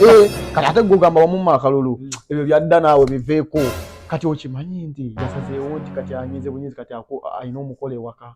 Eh, kati ate gogamba wamuma akalulu hmm. ebyo byadda naawe biveeko kati okimanyi nti yasazeewo nti kati anyinze bunyinzi kati alina omukola ewaka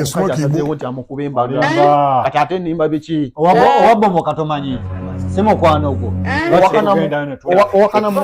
asazeewo nti amukuba embaga kati ate nimba biki owabomoka tomanyi si mukwano gwo owakana mu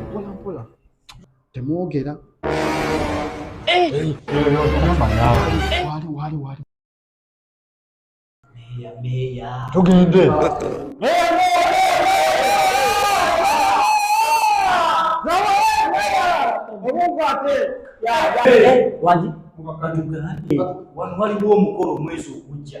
mpolampola temwogera tugende wano waliwo omukolo omwezi ogujja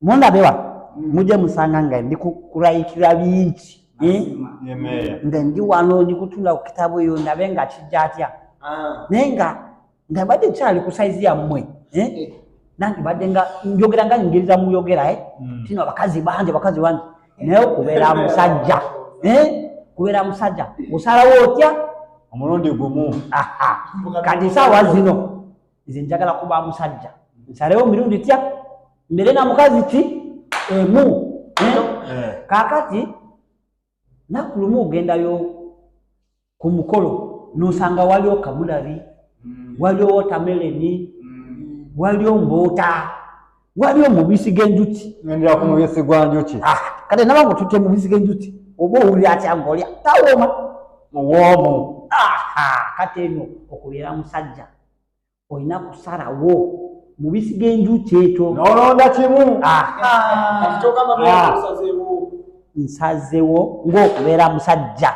Mundabe wa mm. muje musanga nga ndi kukurayikira bingi eh? nga ndi wano ndi kutunda ku kitabu eyo ndabe nga kijja atya ah. naye nga nga badde kyali ku saizi yammwe eh? eh. nange badde nga njogera nga nyingiriza muyogera mm. tino abakazi bangi abakazi bangi naye okubeera musajja kubeera musajja osalawo otya omulundi gumu kati saawa zino nze njagala kuba musajja nsalewo mirundi tya mbere na mukazi ki emu eh? Eh. kakati nakulumu ogendayo ku mukolo nosanga waliwo kabulari mm. waliwo wotameleni mm. waliwo mbuuta wali omubisi g'enjuki ngendera ku mubisi gwa njuki ah, kale naba nga otutte mubisi g'enjuki oba owulira atya ngaolya tawooma muwoomu kati eno okubeera musajja olina kusalawo mubisi g'enjuki ekyo nolonda kimu ah. Ah. nsazewo ng'okubeera musajja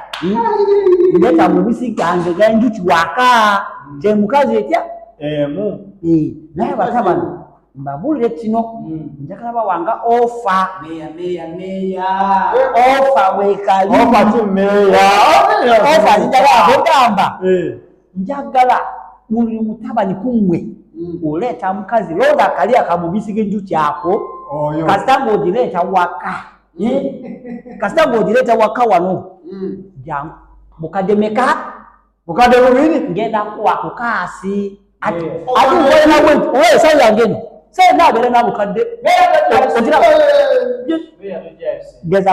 ndeka hmm? mubisi gange genjuki waka gye mukazi etya emu eh, naye baka bano mbabuulire kino hmm. njagala bawanga ofa ofa wekalioofa zijagala kugamba eh. njagala buli mutabani kumwe mm. oleeta mukazi londa akali akamubisi genjuki ako kasita ngaogireeta waka mm. eh? kasita ngaogireeta waka wano mm. jangu mukadde meka mukadde bubiri ngenda kuwa kukaasi ati owesawo yangeno sɛ n'a bɛrɛ n'a b'u ka den. bɛɛ y'a bɛ jɛ. o jira. gɛza.